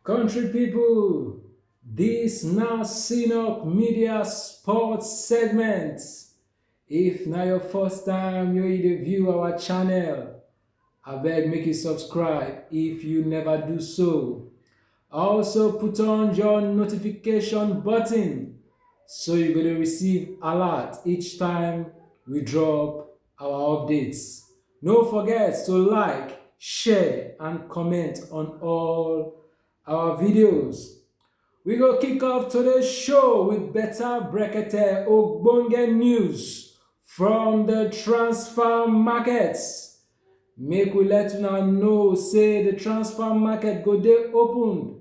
Country people, this na Synop Media Sports segment. If na your first time you you dey view our channel, abeg make you subscribe if you never do so. Also put on your notification button so you go dey receive alert each time we drop our updates. No forget to like, share and comment on all our videos. We go kick off today's show with better brekete ogbonge news from the transfer markets. Make we let una know say the transfer market go dey opened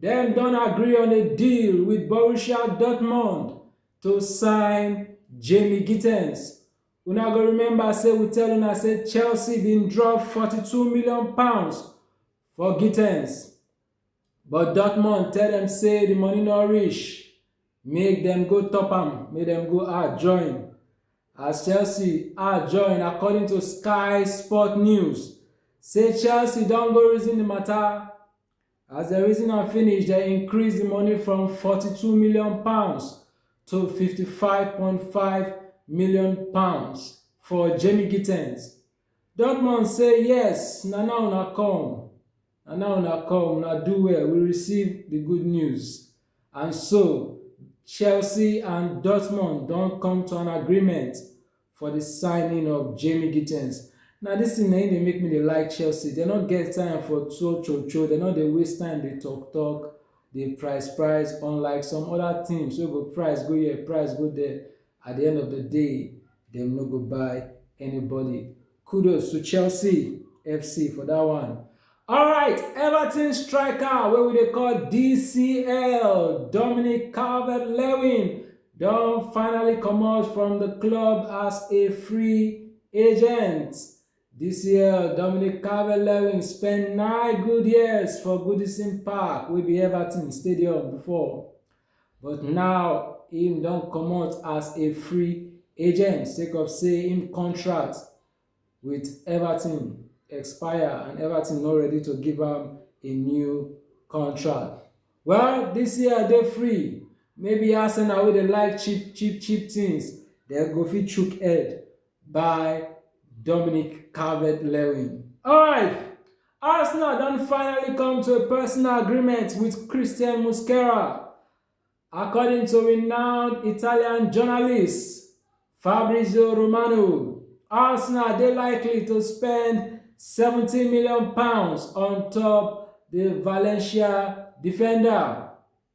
Dem don agree on a deal with Borussia Dortmund to sign Jamie Gittens. Una go remember say we tell una say Chelsea bin drop 42 million pounds for Gittens, but Dortmund tell dem say the money no reach, make dem go top am, make dem go add join. As Chelsea add join, according to Sky Sport News, say Chelsea don go reason the matter As dem reason am finish, dem increase di money from forty-two million pounds to fifty-five point five million pounds for Jamie Gittens. Dortmund say yes, na now una come. Na now una come, una do well, we receive di good news. And so, Chelsea and Dortmund don come to an agreement for the signing of Jamie Gittens. Now this thing na im dey make me dey like Chelsea. They no get time for cho cho cho. They no dey waste time dey talk talk, dey price price. Unlike some other teams wey go price go here, price go there. At the end of the day, dem no go buy anybody. Kudos to Chelsea FC for that one. All right, Everton striker where we dey call DCL, Dominic Calvert-Lewin, don't finally come out from the club as a free agent. DCL Dominic Calvert-Lewin spent nine good years for Goodison Park, wey be Everton Stadium before. but now im don comot as a free agent sake of say im contract wit everton expire and everton no ready to give am a new contract. Well, dis year dey free, maybe Arsenal wey dey like cheap cheap cheap things dem go fit chook head buy Dominic Calvert-Lewin. Alright! Arsenal don finally come to a personal agreement with Christian Muslera. According to renowned Italian journalist Fabrizio Romano, Arsenal dey likely to spend 70 million pounds on top the Valencia defender.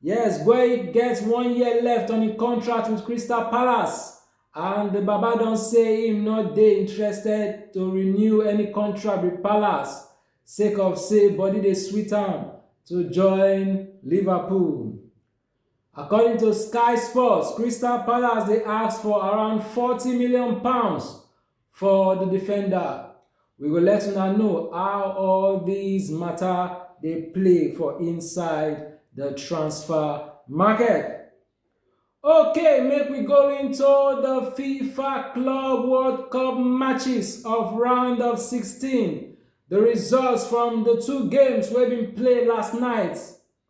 Yes, Boye gets one year left on im contract with Crystal Palace and the Baba don say im no dey interested to renew any contract with Palace sake of say body dey sweet am to join Liverpool. According to Sky Sports, Crystal Palace dey ask for around forty million pounds For di defender, we go let una know how all dis mata dey play for inside di transfer market. Okay, make we go into di FIFA Club World Cup matches of round of 16, di results from di two games wey bin play last night.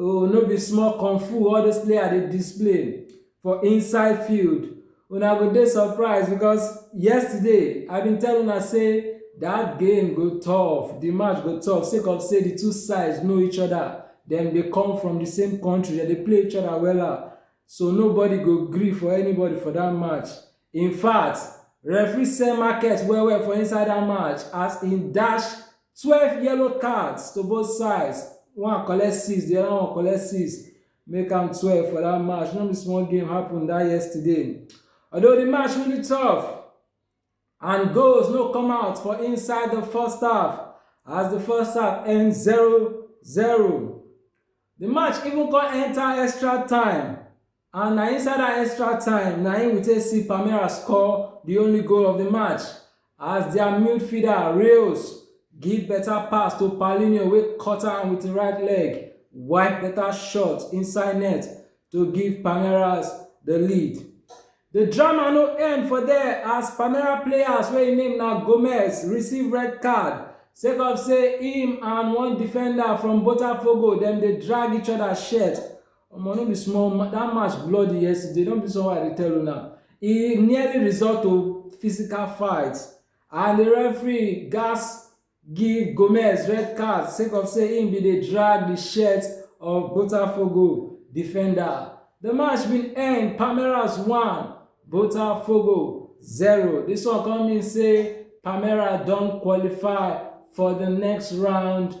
Oh, no be small kung fu all those players dey display for inside field. Una go dey surprised because yesterday I bin tell una say that game go tough, the match go tough sake of say the two sides know each other, dem dey come from the same country, dem dey play each other wella. So nobody go gree for anybody for that match. In fact, referee sell market well well for inside that match as he dash twelve yellow cards to both sides. One collect six, the other one collect six. Make am twelve for that match. No be small game happen that yesterday. Although the match really tough and goals no come out for inside the first half as the first half end 0-0. The match even come enter extra time And na inside that extra time na im we take see Palmeiras score the only goal of the match as their midfielder Reus give better pass to Paulinho wey cut am with him right leg, wipe better shot inside net to give Palmeiras the lead. The drama no end for there as Palmeiras players wey im name na Gomes receive red card sake of say him and one defender from Botafogo dem dey drag each other shirt Omo no be small that match bloody yesterday no be so I dey tell una e nearly result to physical fight and the referee gas give Gomez red card sake of say im bin dey drag the shirt of Botafogo defender. The match bin end Palmeiras 1 Botafogo 0 dis one come mean say Palmeiras don qualify for the next round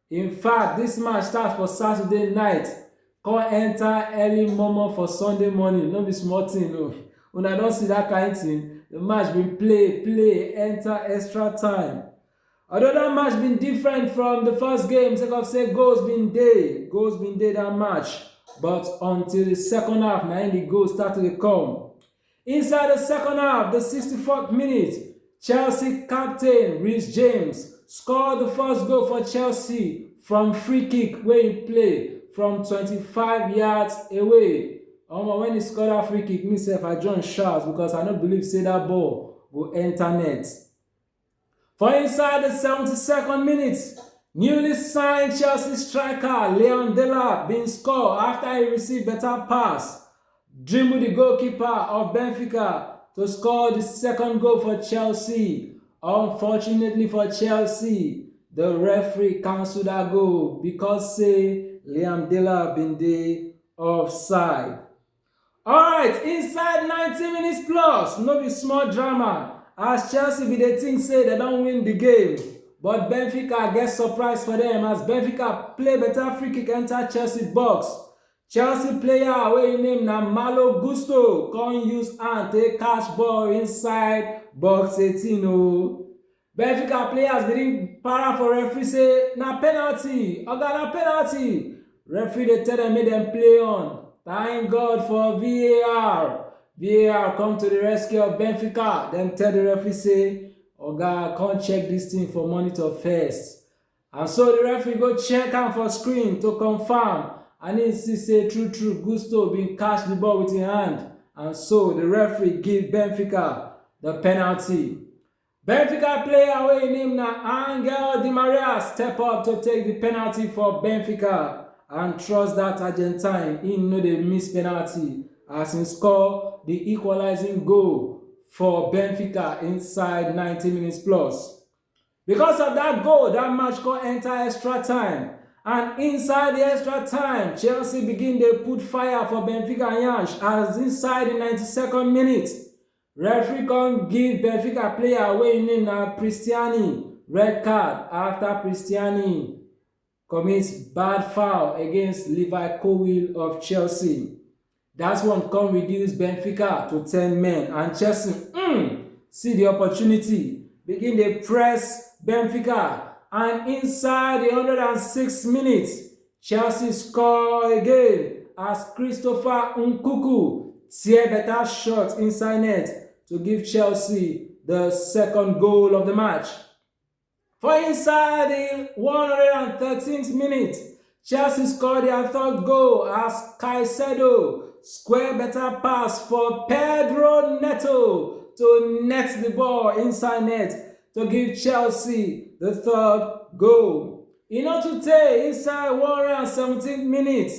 In fact, dis match start for Saturday night come enter early momo for Sunday morning, no be small thing o. Una don see that kind thing? The match bin play, play, enter extra time. Although that match bin different from the first game sake of say goals bin dey, goals bin dey that match but until the second half na im the goals start to dey come. Inside the second half, the 64th minute, Chelsea captain Reece James scored the first goal for Chelsea from free kick where he play from 25 yards away. Omo, when he scored that free kick, myself, I joined shouts because I don't believe say that ball go enter net. For inside the 72nd minute, newly signed Chelsea striker Leon Delap bin score after he receive better pass, dribble the goalkeeper of Benfica to score the second goal for Chelsea. Unfortunately for Chelsea, the referee cancelled that goal because say Leon Delap bin dey offside. Alright, inside 90 minutes plus, no be small drama as Chelsea bin dey think say dem don win di game, but Benfica get surprise for dem as Benfica play better free kick enter Chelsea box. Chelsea player wey im name na Malo Gusto come use hand take catch ball inside box 18 o. benfica players begin para for referee say na penalty oga na penalty referee dey tell dem make dem play on thank god for var var come to the rescue of benfica dem tell the referee say oga come check this thing for monitor first and so the referee go check am for screen to confirm and he see say true true gusto bin catch the ball with him hand and so the referee give benfica the penalty benfica player wey im name na angel di maria step up to take di penalty for benfica and trust dat argentine im no dey miss penalty as im score di equalizing goal for benfica inside 90 minutes plus because of dat goal dat match go enter extra time and inside di extra time chelsea begin dey put fire for benfica yansh as inside di 92nd minute Referee come give Benfica player wey im name na Pristiani red card after Pristiani commit bad foul against Levi Colwill of Chelsea. That one come reduce Benfica to 10 men and Chelsea mm, see the opportunity, begin dey press Benfica and inside the 106 minutes, Chelsea score again as Christopher Nkuku tear better shot inside net to give Chelsea the second goal of the match. For inside the 113th minute, Chelsea scored their third goal as Caicedo square better pass for Pedro Neto to net the ball inside net, to give Chelsea the third goal. In order to take inside 117th minute,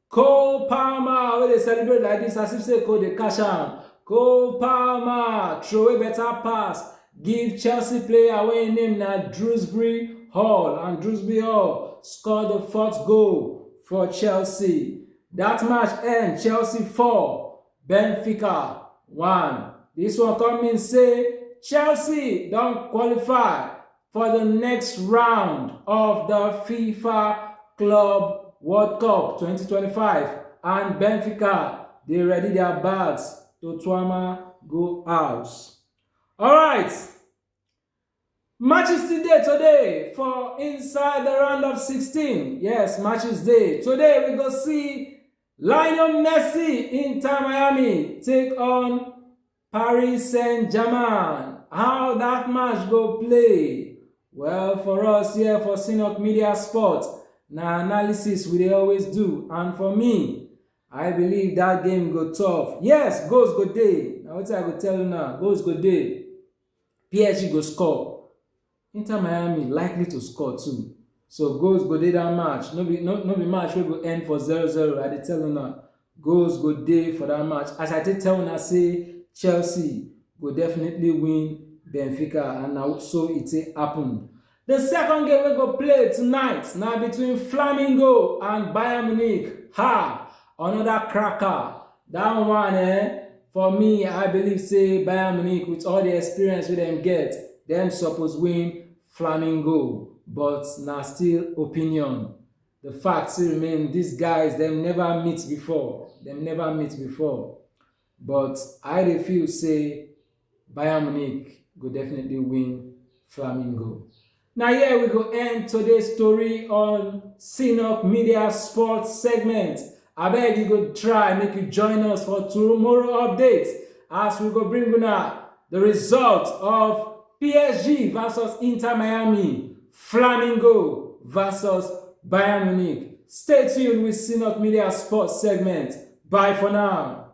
Cole Palmer, where they celebrate like this, as if say Cole the cash out. Cole Palmer, throw a better pass, give Chelsea player away name now Drewsbury Hall, and Drewsbury Hall scored the fourth goal for Chelsea. That match end Chelsea 4, Benfica 1. This one come mean say Chelsea don qualify for the next round of the FIFA Club World Cup 2025 and Benfica dey ready their bags to Tuama go house. Alright, Matches still dey today for inside the round of 16. Yes, matches day. Today we go see Lionel Messi, Inter Miami, take on Paris Saint Germain. How that match go play? Well, for us here for Synod Media Sport, na analysis we dey always do. And for me, I believe that game go tough. Yes, goals go day. Now what I go tell you now, goals go day. PSG go score, Inter Miami likely to score too. So goals go dey that match. No be no, no be match wey go end for 0-0. I dey tell una goals go dey for that match. As I take tell una say Chelsea go definitely win Benfica and na so it take happen. The second game wey go play tonight na between Flamingo and Bayern Munich. Ha! Another cracker. That one eh, for me, I believe say Bayern Munich with all the experience wey dem get, dem suppose win Flamingo. But na still opinion. The fact still remain these guys dem never meet before. Dem never meet before. But I dey feel say Bayern Munich go definitely win Flamingo. Now here we go end today's story on Synop Media Sports segment. I beg you go try make you join us for tomorrow updates as we go bring una the result of PSG versus Inter Miami, Flamingo versus Bayern Munich. Stay tuned with Synop Media Sports segment. Bye for now.